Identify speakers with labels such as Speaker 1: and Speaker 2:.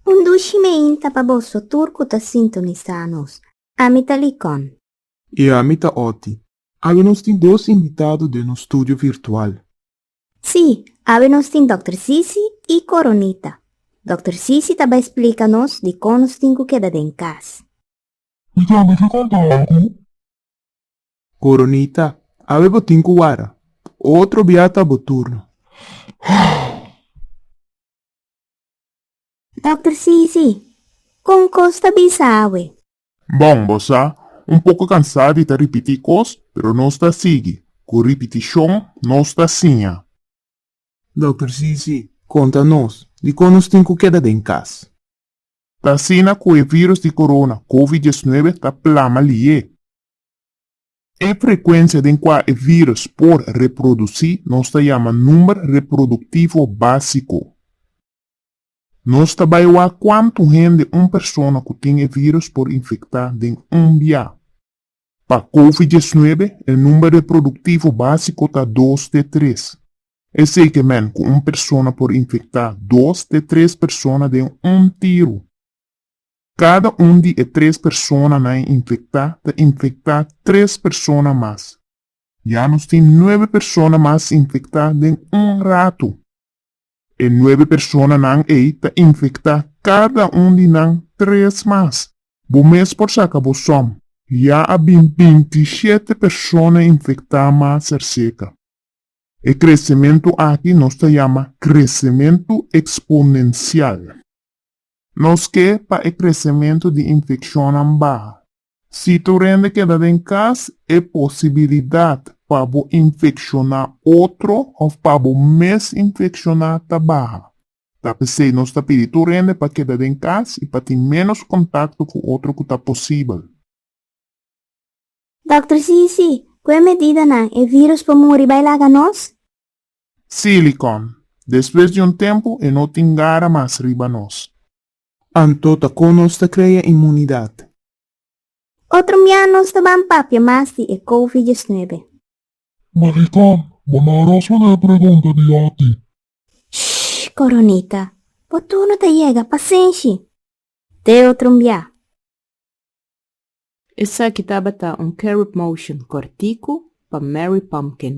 Speaker 1: Un dushi meinta pa boso tur cu ta sintonisa nos. Ami ta Licon. I ami ta Oti. Awe nos tin dos invitado den nos studio virtual. Si, awe nos tin Dòkter Sisi i Coronita. Dòkter Sisi ta bai splica nos di con nos tin cu keda den cas. Mi tambe ke conta algu. Coronita, Awe bo tin cu wara. Otro bia ta bo turno. Dokter, Si, si. Con cos ta bisa awe? Bon, bo sa, un poco cansa di ta ripiti cos, pero nos ta sigui. Cu ripiticion nos ta siña. Dokter, Si, si. Conta nos, di con nos tin cu keda den cas? Ta asina cu e virus di corona, covid diesnuebe, ta plama liye. E frekuensia den kua e vírùs por reprodusí nos ta yama number reproduktivo básiko. Nos ta bai wak kuantu hende un persona ku tin e vírùs por infektá den un bia. Pa Covid diesnuebe, e number reproduktivo básiko ta dos te tres. Esei ke men ku un persona por infektá dos te tres persona den un tiru. Kada un di e tres personanan e infectá ta infectá tres persona mas. Ya nos tin nuebe persona mas infectá den un ratu. E nuebe personanan ei ta infectá kada un di nan tres mas. Bo mes por saca bo som. Ya a bin bintiishete persona infectá mas cerceca. E crecemento aki nos ta yama crecemento exponencial. Nos ke pa e kresementu di infekshonnan baha. Si tur hende keda den kas, e posibilidat pa bo infekshoná otro òf pa bo mes infekshoná ta baha. Ta p'esei nos ta pidi tur hende pa keda den kas i pa tin ménos kontakto ku otro ku ta posibel. Dòkter, Sí, sí. Ku e medidanan, e virus por muri bai laga nos? Silicon. Despues di un tempu e no tin gara mas riba nos. Anto ta con nos ta crea inmunidad. Otro mia nos ta ban papia mas di e covid diesnuebe. Maricon, bo no a responde e pregunta di oti. Shh coronita, bo turno ta yega, pasenshi. Te otro mia. Esaki tabata un Carib Motion kortiku pa Mary Pumpkin.